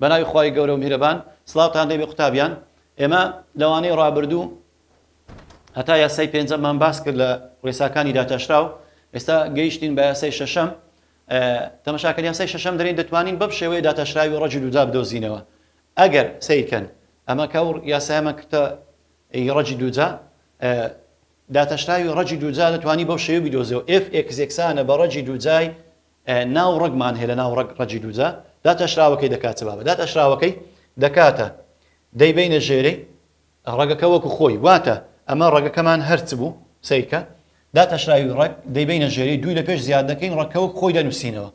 بە ناوی خی گەورە و میرەبان سلااوان دەبێ قوتابیان ئێمە لەوانەی ڕابردوو هەتا یاسای پێنجەمان باس کرد لە ڕێساکانی داتاشراو ئێستا گەیشتین بە یاسای شەشەم تەمەشاکەر یاسای شەشەم دەرێن دەتوانین بەم شێوەیە داتاشراوی ڕەجی دوودا بدۆزینەوە ئەگەر سەیرکەن ئەمە کە ئەو یاسایەمە کتە ی ڕەجی دووجا داتاشراوی ڕەجی دووجا دەتوانی بەو شێوە بدۆزەوە ئف ئێکزێکسانە بە ڕەجی دووجای ناو ڕگمان هەیە لە ناو ڕگ ڕەجی دووجا داتاشراوەکەی دەکاتەوە بە داتاشراوەکەی دەکاتە دەیبینە ژێرەی ڕەگەکە وەکو خۆی واتە ئەمە ڕەگەکەمان هەرچ بوو سەیرکە داتاشراوی ڕەگ دەیبەینە ژێری دووی لە پێش زیاد دەکەین ڕەگکە وەک خۆی دەنوسینەوە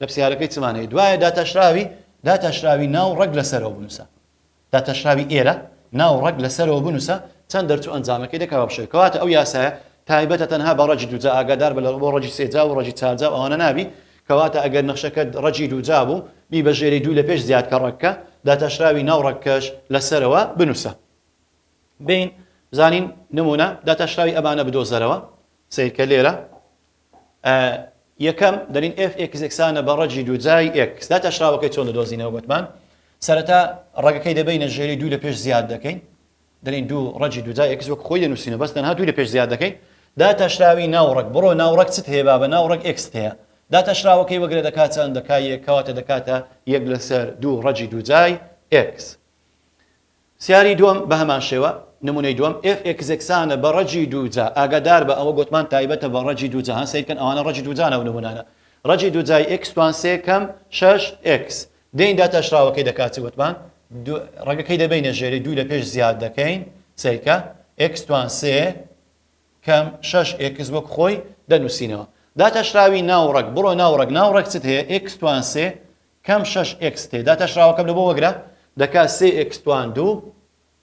لە پسیارەکەی چمان هەیە دوایە داتاشراوی داتاشراوی ناو ڕەگ لە سەرەوە بنوسە داتاشراوی ئێرە ناو ڕەگ لە سەرەوە بنوسە چەند دەرچوو ئەنجامەکەی دەکەوە بشێ کەواتە ئەو یاسایە تایبەتە تەنها بە ڕەگی دووجا ئاگادار بە لە بۆ ڕەگی سێجا و ڕەگی چارجا و ئەوانە نابی کەواتە ئەگەر نەخشەکەت ڕەگی دووجا بوو، بی بە ژێرەی دوو لە پێش زیاد کە ڕەگکە، داتاشراوی ناو ڕەگکەش لە سەرەوە بنووسە. بین زانین نموونە داتاشراوی ئەمانە بدۆزەرەوە، سەیرکە لێرە ئە یەکەم دەلین ئێف ئێکس یەکسانە بە ڕەگی دووجای ئێکس. داتاشراوەکەی چۆن دەدۆزینەوە گۆتمان سەرەتا ڕەگەکەی دەبەینە ژێرەی دوو لە پێش زیاد دەکەین دەلێین دوو ڕەگی دوو جا ئێکس وەک خۆی دەنوسینەوە بەس تەنها دووی لە پێش زیاد دەکەین، داتاشراوی ناوڕەگ بڕۆ ناوڕەگ چت هەیە بابە ناوڕەگ ئێکست هەیە داتاشراوەکەی وەگرە دەکا چەند دەکا یەک کەواتە دەکاتە یەک لەسەر دوو ڕەگی دوو جای ئێکس سیاری دووەم بە هەمان شێوە نمونەی دووەم ئێف ئێکس ئێکسانە بە ڕەگی دوو جا ئاگادار بە ئەوە گوتمان تایبەتە بە ڕەگی دوو جەهان سەیرکەن ئەوانە ڕەگی دوو جانە و نمونانە ڕەگی دوو جای ئێکس توان سێ کەم شەش ئێکس دەین داتاشراوەکەی دەکات چ وتمان دو ڕەگەکەی دەبەینە ژێری دوو لە پێش زیاد دەکەین سەیکە ئێکس توان سێ کەم شەش ئێکس وەک خۆی دەنووسینەوە داتاشراوی ناو ڕەگ بڕۆ ناو ڕەگ ناو ڕەگ چت هەیە ئێکس توان سێ کەم شەش ئێکس تێ داتاشراوەکەم لە بۆ وەگرە دەکات سێ ئێکس توان دوو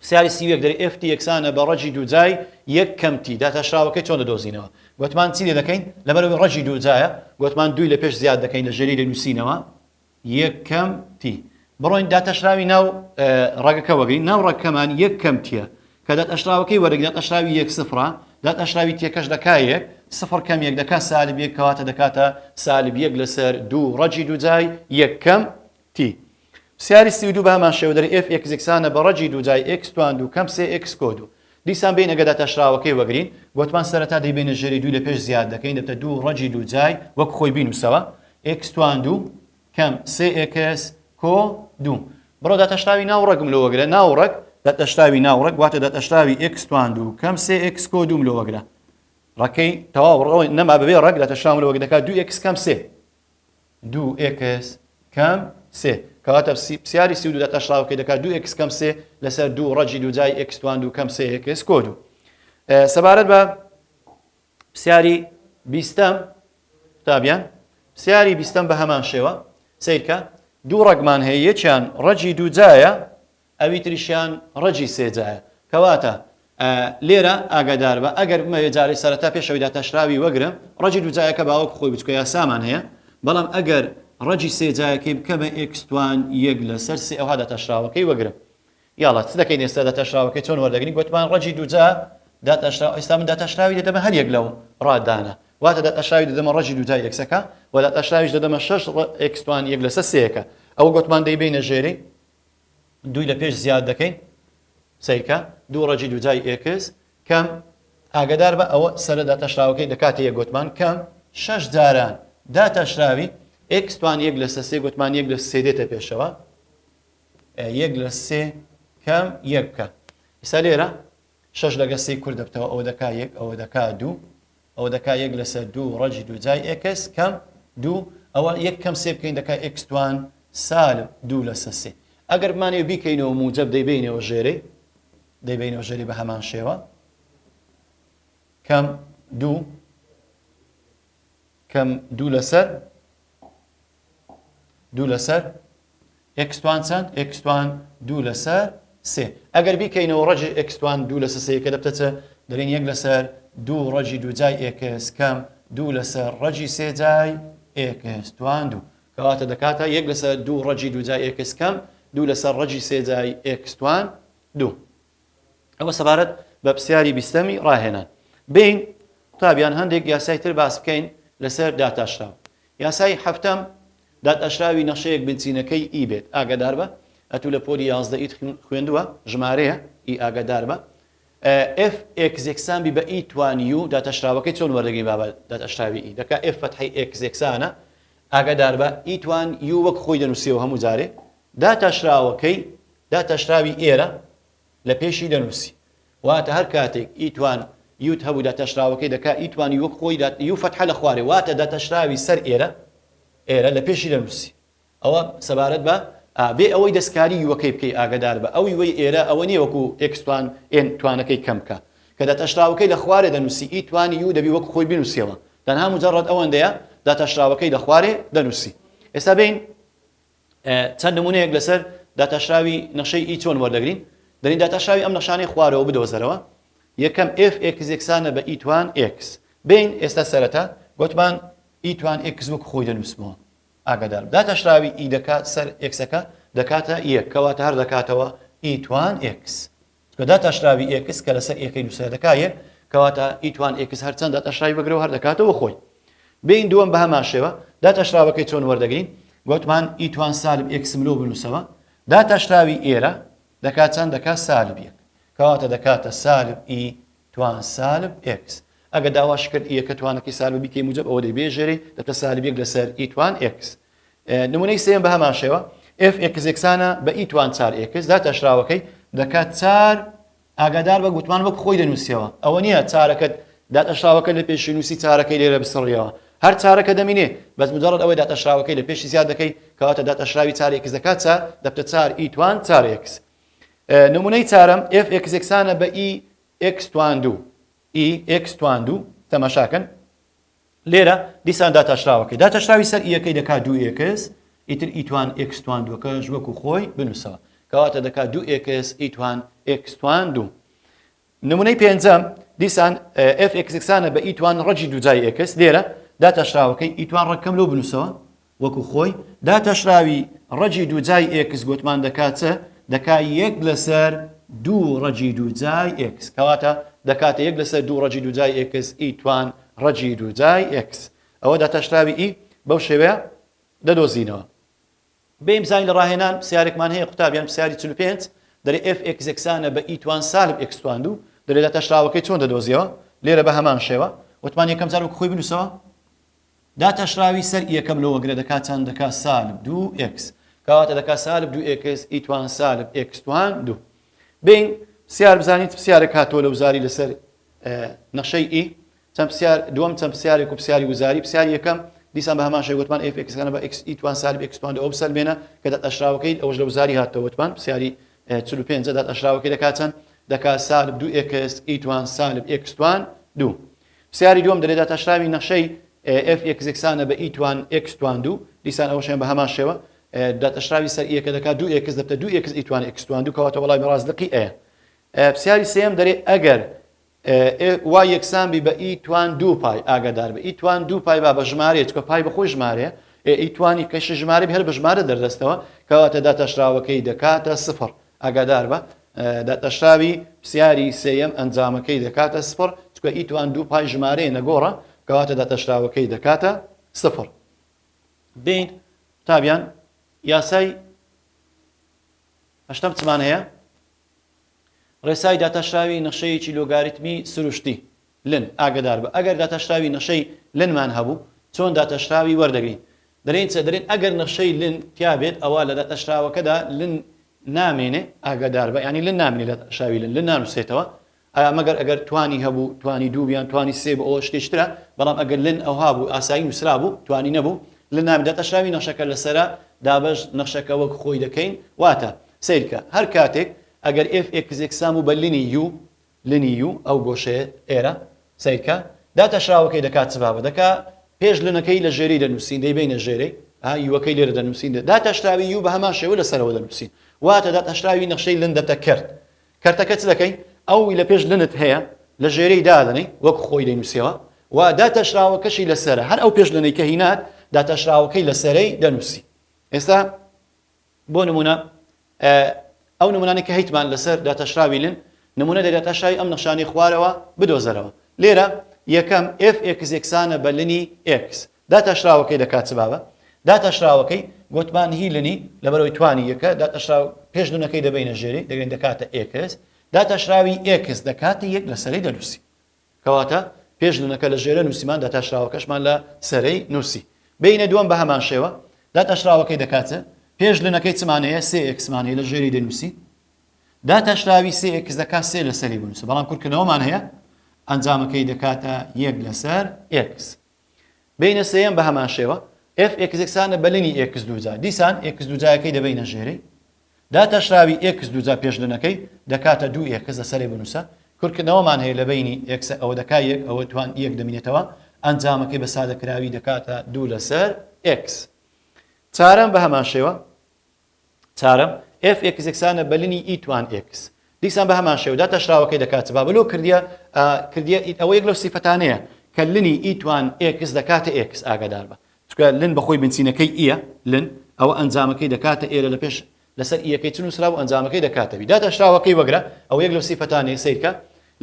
پرسیاری سی و یەک، دەرێ ئێفتی یەکسانە بە ڕەجی دووجای یەک کەم تی، داتاشراوەکەی چۆن دەدۆزینەوە؟ گۆتمان چی لێ دەکەین؟ لەبەرئەوەی ڕەجی دووجایە، گۆتمان دووی لە پێش زیاد دەکەین لە ژێری لێ نووسینەوە یەک کەم تی. بڕۆین داتاشراوی ناو ڕەگەکە وەگرین، ناو ڕەگکەمان یەک کەم تیە، کە داتاشراوەکەی وەرەگرین داتاشراوی یەک سفرە، داتاشراوی تیەکەش دەکا یەک، سفر کەم یەک دەکا سالب یەک، کەواتە دەکاتە سالب یەک لەسەر دوو ڕەجی دووجای یەک کەم تی پسیاری سی و دوو بە هەمان شێوە دەری ئێف ئێکس یەکسانە بە ڕەجی دوو جای ئێکس توان دوو کەم سێ ئێکس کۆ دوو. دیسان بێین ئەگەر داتاشراوەکەی وەگرین، گۆتمان سەرەتا دەیبەینە ژێری دووی لە پێش زیاد دەکەین دەبتە دوو ڕەجی دوو جای وەک خۆی بینووسەوە ئێکس توان دوو کەم سێ ئێکس کۆ دوو. بڕۆ داتاشراوی ناو ڕەگم لۆ وەگرە ناو ڕەگ. داتاشراوی ناو ڕەگ واتە داتاشراوی ئێکس توان دوو کەم سێ ئێکس کۆ دووم لۆ وەگرە. ڕەکەی تەواو ڕەوە نەما بەبێ ڕەگ داتاشراوم لۆ وەگدەکات دوو ئێکس کەم سێ. دوو ئێکس کەم سێ کەواتە پرسیاری سی و دوو دە تەشڵاو کەی دەکات دوو ئێکس کەم سێ لەسەر دوو ڕەجی دوو جای ئێکس توان دوو کەم سێ ئێکس کۆ دوو سەبارەت بە پرسیاری بیستەم قوتابیان پرسیاری بیستەم بە هەمان شێوە سیرکە دوو ڕەگمان هەیە یەکیان ڕەجی دوو جایە ئەوی تریشیان ڕەجی سێ جایە. کەواتە لێرە ئاگاداربە ئەگەر بمەوێ جارێ سەرەتا پێش ئەوی داتاشراوی وەگرم، ڕەجی دوو جایەکە باوەکو خۆی بچوکە یاسامان هەیە، بەڵام ئەگەر ڕەجی سێ جایەکەی بکەمە ئێکس توان یەک لەسەر سێ ئەوها داتاشراوەکەی وەگرم. یاڵا چ دەکەین ئێستا داتاشراوەکەی چۆن وەردەگرین؟ گۆتمان ڕەجی دوو جا داتاشراو، ئێستا من داتاشراوی دەدەمە هەر یەک لەو ڕادانە. واتە داتاشراوی دەدەمە ڕەجی دوو جای ئێکسەکە و داتاشراویش دەدەمە شەش ڕ ئێکس توان یەک لەسەر سێیەکە. ئەوە گۆتمان دەیبەینە ژێری دووی لە پێش زیاد دەکەین سەیرکە دوو ڕەجی دوجای ئێکس کەم ئاگدار بە ئەوە سەرە داتەشراوەکەی دەکاتە یە گوتمان کەم شش جاران داتەشراوی ئێکستوان یەک لە سەسێ گوتمان یەک لە سێ دێتە پێشەوە یەک لە سێ کەم یەک بکە ئستا لێرە شەش لەگە سێی کور دەبتەوە ئەوە دەکا یەک ئەوە دەکا دوو ئەوە دەکا یەک لەسەر دوو ڕەجی دوو جای ئێکس کەم دوو ئەوە یەک کەم سێ بکەین دەکا ئێکس توان سالب دوو لەسە سێ ئەگەر بمانێ بیکەینەوە موجب دەیبینەوە ژێرەی دەیبینەوە ژێری بە هەمان شێوە کەم دوو کەم دوو لەسەر دوو لەسەر ئکسوان چەند ئکسوان دوو لەسەر سێ ئەگەر بیکەینەوە ڕەجی ئکسوان دوو لەسە سەیەکە دەبتەچە دەرێن یەک لەسەر دوو ڕەجی دووجای ئێکس کەم دوو لەسەر ڕەجی سێجای ئێکستوان دوو کەواتە دەکاتە یەک لەسەر دوو ڕەجی دووجای ئێکس کەم دوو لەسەر ڕەجی سێجای ئێکستوان دوو ئەوە سەبارەت بە پرسیاری بیستەمی ڕاهێنان بین قوتابیان هەندێک یاسای تر باس بکەین لەسەر داتاشراو یاسای هەفتەم داتاشراوی نەخشەیەک بنچینەکەی ئی بێت ئاگادار بە ئەتوو لە پۆلی یازدە ئیت خوێندووە ژمارەیە ئی ئاگادار بە ئف ئێکزێکسان بی بە ئی توانی و داتاشراوەکەی چۆن وەردەگەی بابە داتاشراوی ئی دەکا ئف فەتحی ئێکزێکسانە ئاگادار بە ئی توان یو وەک خۆی دەنووسیەوە هەموو جارێ داتاشراوەکەی داتاشراوی ئێرە لە پێشی دەنووسی. واتە هەر کاتێک ئیتوان یوت هەبوو داتاشراوەکەی دەکا ئیتوان یوک خۆی دات یو فەتحە لە خوارێ واتە داتاشراوی سەر ئێرە ئێرە لە پێشی دەنووسی. ئەوە سەبارەت بە ئا. بێ ئەوەی دەستکاری یوەکەی بکەی ئاگەدار بە ئەو یوەی ئێرە ئەوە نییە وەکوو ئێکستوان ئێن توانەکەی کەم بکا. کە داتاشراوەکەی لە خوارێ دەنووسی ئیتوان یو دەبی وەک خۆی بنووسیەوە تەنها موجەڕەد ئەوەندەیە داتاشراوەکەی لە خوارێ دەنووسی. ئێستا بێین چەند نمونەیەک لەسەر داتاشراوی نەخشەی ئی چۆن وەردەگرین دەرین داتاشراوی ئەم نەخشانەی خوارەوە بدۆزەرەوە یەکەم ئێف ئێکس یەکسانە بە ئی توان ئێکس بین ئێستا سەرەتا گۆتمان ئی توان ئێکس وەک خۆی دەنووسمەوە ئاگادار داتاشراوی ئی دەکات سەر ئێکسەکە دەکاتە یەک کەواتە هەر دەکاتەوە ئی توان ئێکس چونکە داتاشراوی ئێکس کە لەسەر ئێکەی نووسرا دەکا یەک کەواتە ئیتوان ئێکس هەرچەند داتاشراوی بەگرە و هەر دەکاتەوە خۆی بین دووەم بە هەمان شێوە داتاشراوەکەی چۆن وەردەگرین گوتمان ئیتوان سالب ئێکسم لۆ بنووسەوە داتاشراوی ئێرە دەکا چەند دەکا سالب یەک کەواتە دەکاتە سالب ئی توان سالب ئێکس ئەگە داواش کرد یەکە توانەکەی سالب بیکەی موجب ئەوە دەبێژێری دەتە سالب یەک لەسەر ئیتوان ئێکس نمونەی سێیەم بە هەمان شێوە ئێف ئێکس یەکسانە بە ئی توان چار ئێکس دا تاشراوەکەی دەکات چار ئاگادار بە گوتمان وەک خۆی دەنووسیەوە ئەوە نییە چارەکەت داتەشراوەکە لە پێشی نووسی چارەکەی لێرە بسڕیەوە هەر چارەکە دەمینێ بەس مجرد ئەوەی داتەشراوەکەی لە پێشی زیاد دەکەی کەواتە داتەشراوی چارێکس دەکات چار دەبتە چار ئی توان چارێکس نمونەی چارم ئف ئکس یەکسانە بە ئی ئکس توان دوو ئی ئکس توان دوو تەمەشاکەن لێرە دیسان داتاشراوەکەی داتاشراوی سەر یەکەی دەکات دوو ئێکس ئیتر ئیتوان ئێکستوان دووەکەش وەکو خۆی بنووسەوە کەواتە دەکات دوو ئێکس ئیتوان ئێکستوان دوو نمونەی پێنجەم دیسان ئفکسانە بە ئیتوان ڕەجی دوجای ئێکس لێرە داتاشراوەکەی ئیتوان ڕەکەم لەو بنووسەوە وەکو خۆی داتاشراوی ڕەگی دووجای ئێکس گۆتمان دەکا چ؟ دەکا یەک لەسەر دوو ڕەگی دووجای ئێکس. کەواتە دەکاتە یەک لەسەر دوو ڕەگی دووجای ئێکس ئی توان ڕەگی دووجای ئێکس. ئەوە داتاشراوی ئی بەو شێوەیە دەدۆزینەوە. بێین بزانین لە ڕاهێنان پسیارێکمان هەیە قوتاب یان پسیاری چل و پێنج دەرێ ئێف ئێکس یەکسانە بە ئی توان سالب ئێکس توان دوو دەرێ داتاشراوەکەی چۆن دەدۆزیەوە؟ لێرە بە هەمان شێوە. وتمان یەکەم جار وەکو خۆی بنووسەوە. داتاشراوی سەر یەکەم لۆ وەگرە دەکا چەند دەکا سالب دوو ئێکس کەواتە دەکا سالب دوو ئێکس ئی توان سالب ئێکس توان دوو بین پسیار بزانیت پسیارێک هاتۆ لە وزاری لەسەر نەخشەی ئی چەند پسیار دووەم چەند پسیارێک و پسیاری وزاری پسیار یەکەم دیسان بە هەمان شێ وتمان ئێف ئێکسەکانە بە ئێکس ئی توان سالب ئێکس توان ئەو بسەلمێنە کە دەت ئەشراوەکەی ئەوش لە وزاری هاتەوە وتمان پسیاری 45 دەت ئەشراوەکەی دەکا چەند دەکا سالب دوو ئێکس ئی توان سالب ئێکس توان دوو پرسیاری دووەم، دەلێ داتاشراوی نەخشەی، ئێف ئێکس، یەکسانە بە ئی توان ئێکس توان دوو، دیسان ئەوەشیان بە هەمان شێوە، داتاشراوی سەر ئیەکە دەکا دوو ئێکس دەبتە دوو ئێکس ئی توان ئێکس توان دوو، کەواتە وەڵامی ڕاست لقی ئەیە. پرسیاری سێیەم دەلێ ئەگەر، ئێف وای، یەکسان بی بە ئی توان دوو پای، ئاگادار بە ئی توان دوو پای با بە ژمارەیە، چونکە پای بە خۆی ژمارەیە، ئێ ئی توان یەکەشی ژمارە بی هەر بە ژمارە دەردەستەوە، کەواتە داتاشراوەکەی دەکاتە سفر، ئاگادار بە، داتاشراوی پرسیاری سێیەم ئەنجامەکەی دەکاتە سفر، چونکە ئیتوان دوو پای ژمارەیە نەگۆڕە، کەواتە داتاشراوەکەی دەکاتە سفر. دەین قوتابیان یاسای هەشتەم چمان هەیە؟ ڕێسای داتاشراوی نەخشەیەکی لۆگاریتمی سروشتی لن، ئاگەدار بە، ئەگەر داتاشراوی نەشەی لنمان هەبوو، چۆن داتاشراوی وەردەگرین؟ دەلێین چ؟ دەلێن ئەگەر نەشەی لن تیا بێت ئەوا لە داتاشراوەکەدا لن نامێنێ، ئاگەدار بە، یانی لن نامێنێ لە داتاشراوی لن، لن نانوسرێتەوە، ئایا مەگەر ئەگەر توانی هەبوو، توانی دوو یان توانی سێ بوو ئەوە شتێکی ترە، بەڵام ئەگەر لن ئەوها بوو ئاسایی نوسرابوو، توانی نەبوو، لن نامێنێ، داتاشراوی نەشەکە لەسەرە، دابەش نەشەکە وەک خۆی دەکەین، واتە، سەیرکە، هەر کاتێک ئەگەر ئێف ئێکس یەکسان بوو بە لنی یوو، لنی یو ئەو گۆشەیە ئێرە سەیرکە داتاشراوەکەی دەکات چ بابە دەکا پێش لنەکەی لە ژێری دەنووسین دەیبەینە ژێرەی ها یوەکەی لێرە دەنووسین داتاشراوی یو بەهەمان شێوە لە سەرەوە دەنووسین واتە داتاشراوی نەخشەی لن دەتە کەرت کەرتەکە چ دەکەی ئەوی لە پێش لنت هەیە لە ژێرەی دادەنەی وەک خۆی دەینووسیەوە و داتاشراوەکەشی لەسەرە هەر ئەو پێش لنەی کە هینات داتاشراوەکەی لەسەرەی دەنووسی ئێستا بۆ نموونە ئەو نموونانەی کە هەیتمان لەسەر داتاشراوی لن، نموونە لە داتاشراوی ئەم نەخشانەی خوارەوە بدۆزەرەوە. لێرە یەکەم، ئێف ئێکس یەکسانە بە لنی ئێکس. داتاشراوەکەی دەکات چ بابە؟ داتاشراوەکەی گۆتمان هی لنی لەبەرئەوەی توانی یەکە، داتاشراو پێش لنەکەی دەبەینە ژێری، دەگرین دەکاتە ئێکس. داتاشراوی ئێکس دەکاتە یەک لەسەری دەنووسین. کەواتە پێش نونەکە لە ژێرە نووسیمان داتاشراوەکەشمان لە سەرەی نووسی. بەینە دووەم بە هەمان شێوە داتاشراوەکەی دەکات پێش لنەکەی چمان هەیە سێ ئێکسمان هەیە لە ژێری دەنووسی داتاشراوی سێ ئێکس دەکات سێ لەسەری بنووسە بەڵام کورتکردنەوەمان هەیە ئەنجامەکەی دەکاتە یەک لەسەر ئێکس. بینە سێیەم بە هەمان شێوە ئێف ئێکس یەکسانە بە لنی ئێکس دووجا دیسان ئێکس دووجایەکەی دەبینە ژێرەی داتاشراوی ئێکس دووجا پێش لنەکەی دەکاتە دوو ئێکس لە سەرێ بنووسە کورکردنەوەمان هەیە لە بینی ئێکسە ئەوە دەکا یەک ئەوە توان یەک دەمینێتەوە ئەنجامەکەی بە سادەکراوی دەکاتە دوو لەسەر ئێکس چارەم بە هەمان شێوە چارەم، ئێف ئێکس یەکسانە بە لنی ئی توان ئێکس. دیسان بە هەمان شێوە داتاشراوەکەی دەکات چ بابە لۆ کردیە ئا کردیە ئید ئەوە یەک لەو سیفەتانەیە کە لنی ئی توان ئێکس دەکاتە ئێکس ئاگادار بە چونکە لن بە خۆی بنچینەکەی ئیە لن ئەوە ئەنجامەکەی دەکاتە ئێرە لە پێش لەسەر ئیەکەی چ نووسرابوو ئەنجامەکەی دەکاتە بی داتاشراوەکەی وەگرە ئەوە یەک لەو سیفەتانەیە سەیرکە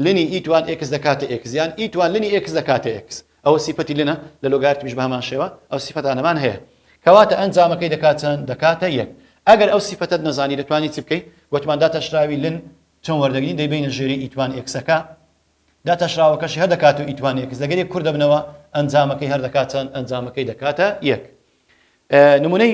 لنی ئی توان ئێکس دەکاتە ئێکس یان ئی توان لنی ئێکس دەکاتە ئێکس ئەوە سیفەتی لنە، لە لۆگارتمیش بەهەمان شێوە، ئەو سیفەتانەمان هەیە. کەواتە ئەنجامەکەی دەکات چەند؟ دەکاتە یەک. ئەگەر ئەو سیفەتەت نەزانی دەتوانی چ بکەی؟ گۆتمان داتاشراوی لن چۆن وەردەگرین؟ دەیبەینە ژێری ئیتوان ئێکسەکە، داتاشراوەکەشی هەر دەکاتە ئیتوان ئێکس، لەگەر یەک کور دەبنەوە، ئەنجامەکەی هەر دەکات چەند؟ ئەنجامەکەی دەکاتە یەک. نمونەی.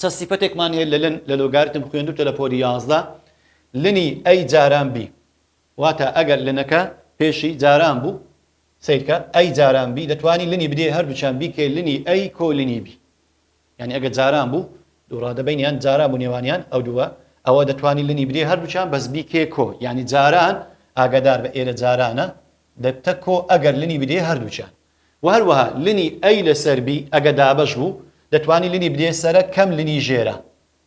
چە سیفەتێکمان هەیە لە لن لە لۆگاریتم خوێندووتە لە پۆلی یازدە لنی ئەی جاران بی واتە ئەگەر لنەکە پێشی جاران بوو سەیرکە ئەی جاران بی دەتوانی لنی بدێ هەردووچان بیکەی لنی ئەی کۆ لنی بی یعنی ئەگە جاران بوو دووڕادە بینیان جاران بوو نێوانیان ئەو دووە ئەوە دەتوانی لنی بدێ هەردووچان بەس بیکێ کۆ یعنی جاران ئاگادار بە ئێرە جارانە دەبتە کۆ ئەگەر لنی بدێ هەردووچان و هەروەها لنی ئەی لەسەر بی ئەگە دابەش بوو دەتوانی لنی بدەیە سەرە کەم لنی ژێرە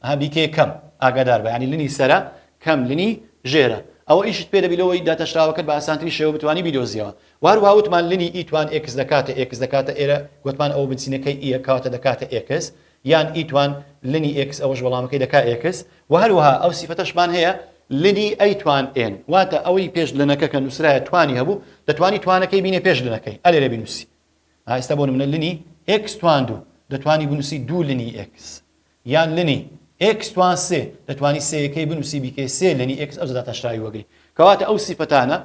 ها بیکەیە کەم ئاگادار بە یانی لنی سەرە کەم لنی ژێرە ئەوە ئیشت پێ دەبی لەوەی داتاشراوەکەت بە ئاسانتری شێوە بتوانی بیدۆزیەوە و هەروەها وتمان لنی ی توان ئێکس دەکاتە ئێکس دەکاتە ئێرە گۆتمان ئەوە بنچینەکەی ئیە کەواتە دەکاتە ئێکس یان ئیتوان لنی ئێکس ئەوەش وەڵامەکەی دەکا ئێکس وە هەروەها ئەو سیفەتەشمان هەیە لنی ئەیتوان ئێن واتە ئەوەی پێش لنەکە کە نووسرایە توانی هەبوو دەتوانی توانەکەی بینێ پێش لنەکەی ئە لێرە بینووسی ئا ئێستا بۆ نمونە لنی ئێکس توان دوو دەتوانی بنووسی دوو لنی ئێکس یان لنی ئێکس توان سێ دەتوانی سێیەکەی بنووسی بیکەی سێ لنی ئێکس ئەو زەداتە شراوی وەگری کەواتە ئەو سیفەتانە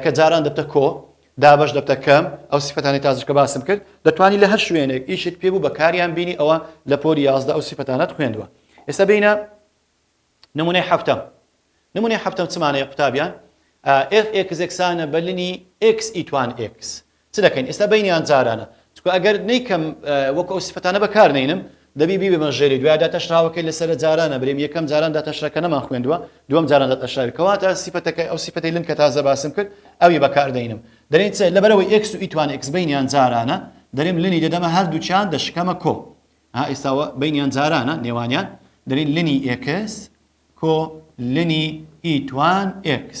کە جاران دەبتە کۆ، دابەش دەبتە کەم، ئەو سیفەتانەی تازر کە باسم کرد، دەتوانی لە هەر شوێنێک ئیشت پێ بوو بەکاریان بینی ئەوە لە پۆلی یازدە ئەو سیفەتانەت خوێندوە. ئێستا بێینە نمونەی حەفتەم. نمونەی حەفتەم چمانەیە قوتابیان؟ ئێف ئێکس یەکسانە بە لنی ئێکس ی توان ئێکس. چ دەکەین ئێستا بەینیان جارانە چونکە ئەگەر نەیکەم وەکو ئەو سفەتانە بەکار نەینم دەبی بیبمە ژێری دوای داتەشراوەکەی لەسەر جارانە بریم یەکەم جاران داتەشرەکە نەمان خوێندووە دوم جاران داتەشراوی کەواتە سفەتەکەی ئەو سفەتی لن کە تازە باسم کرد ئەوی بەکار دەینم دەرین چ لەبەرەوەی ئێکس و ئیتوان ئێکس بەینیان جارانە دەریم لنی دەدەمە هەردووچیان دەشکەمە کۆ ها ئێستاوە بەینیان جارانە نێوانیان دەرین لنی ئێکس کۆ لنی ئیتوان ئێکس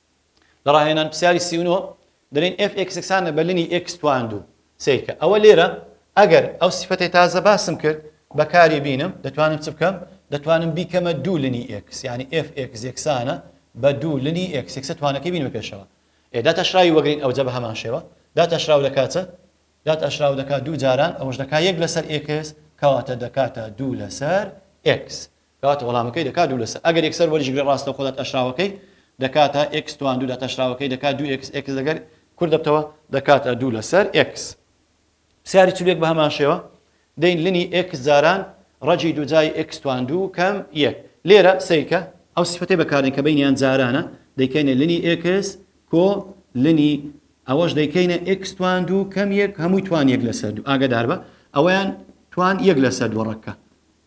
لە ڕاهێنان پرسیاری سی و نۆ دەلێن ئێف ئێکس یەکسانە بە لنی ئێکس تواند و سەیرکە ئەوە لێرە ئەگەر ئەو سیفەتەی تازە باسم کرد بەکاری بینم دەتوانم چ بکەم دەتوانم بیکەمە دوو لنی ئێکس یعنی ئێف ئێکس یەکسانە بە دوو لنی ئێکس یەکسە توانەکەی بینمە پێشەوە ئێدا تەشراوی وەگرین ئەوجە بە هەمان شێوە دا تەشراو دەکاتە دا تەشراو دەکات دوو جاران ئەوەش دەکات یەک لەسەر ئێکس کەواتە دەکاتە دوو لەسەر ئێکس کەواتە وەڵامەکەی دەکا دوو لەسەر ئەگەر یەکسەر وەریشگرێ ڕاستەوخۆ داتاشراوەکەی دەکاتە ئێکس توان دوو داتاشراوەکەی دەکا دوو ئێکس ئێکس لەگەر کورت دەبتەوە دەکاتە دوو لەسەر ئێکس پرسیاری چل و یەک بەهەمان شێوە دەین لنی ئێکس جاران ڕەجی دووجای ئێکس توان دوو کەم یەک لێرە سەیرکە ئەو سفەتەی بەکاردێن کە بینیان جارانە دەیکەینە لنی ئێکس کۆ لنی ئەوەش دەیکەینە ئێکس توان دوو کەم یەک هەمووی توان یەک لەسەر دوو ئاگدار بە ئەویان توان یەک لەسەر دووەڕەکە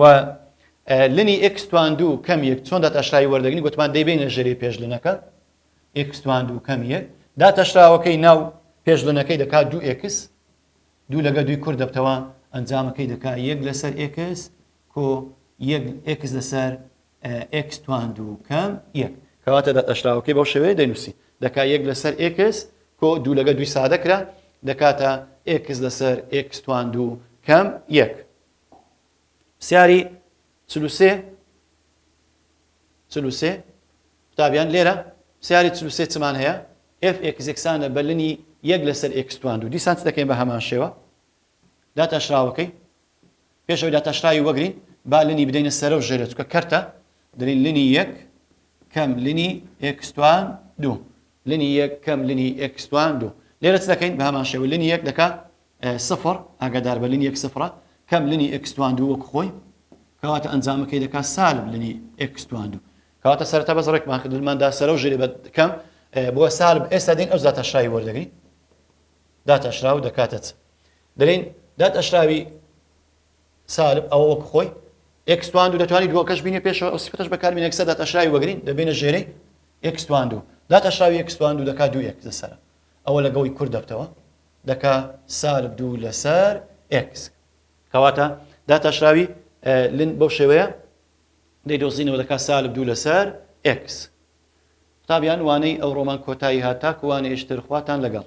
و لنی ئێکس توان دوو کەم یەک چۆن داتاشراوی وەردەگرین گوتمان دەیبینە ژێری پێشلنەکە ئێکس توان دوو کەم یەک داتاشراوەکەی ناو پێشلنەکەی دەکات دوو ئێکس دوو لەگە دوی کورد دەبتەوە ئەنجامەکەی دەکات یەک لەسەر ئێکس کۆ یەک ئێکس لەسەر ئێکس توان دوو کەم یەک کەواتە داتاشراوەکەی بەو شێوەیە دەنووسی دەکات یەک لەسەر ئێکس کۆ دوو لەگە دوی سادەکرا دەکاتە ئێکس لەسەر ئێکس توان دوو کەم یەک پرسیاری چل و سێ چل و سێ قوتابیان لێرە پرسیاری چل و سێ چمان هەیە ئێف ئێکس یەکسانە بە لنی یەک لەسەر ئێکس توان دوو دیسان چ دەکەین بە هەمان شێوە داتاشراوەکەی پێشەوەی داتاشراوی وەگرین با لنی بدەینە سەرە و ژێرە چکە کەرتە دەلین لنی یەک کەم لنی ئێکس توان دوو لنی یەک کەم لنی ئێکس توان دوو لێرە چ دەکەین بە هەمان شێوە لنی یەک دەکا سفر ئاگادار بە لنی یەک سفرە کەم لنی ئێکس توان دوو وەک خۆی کەواتە ئەنجامەکەی دەکات سالب لنی ئێکس توان دوو کەواتە سەرەتا بەس ڕێکمان کرد لماندا سەرە و ژێری بە کەم بۆ سالب ئێستا دین ئەو زاتە شاوی وەردەگری دات ئەشرا و دەکاتە چ دەلین دات ئەشراوی سالب ئەوە وەک خۆی ئەکسوان دوو دەتوانانی دووەکەش بینێ پێشەوە ئەوسیفتش بەکارمی نەکسە دات ئەشراوی وەگرین دەبێنە ژێرەی ئەکسوان دوو دات ئەشراوی ئەکسوان دوو دەکات دوو یەک لەسەر ئەوە لەگەڵی کورد دەبتەوە دەکا سالب دوو لەسەر ئێکس. کەواتە داتاشراوی لن بەو شێوەیە دەیدۆزینەوە دەکا سالب دوو لەسەر ئێکس. قوتابیان وانەی ئەو ڕۆمان کۆتایی هات تاکو وانەیش تر خواتان لەگەڵ.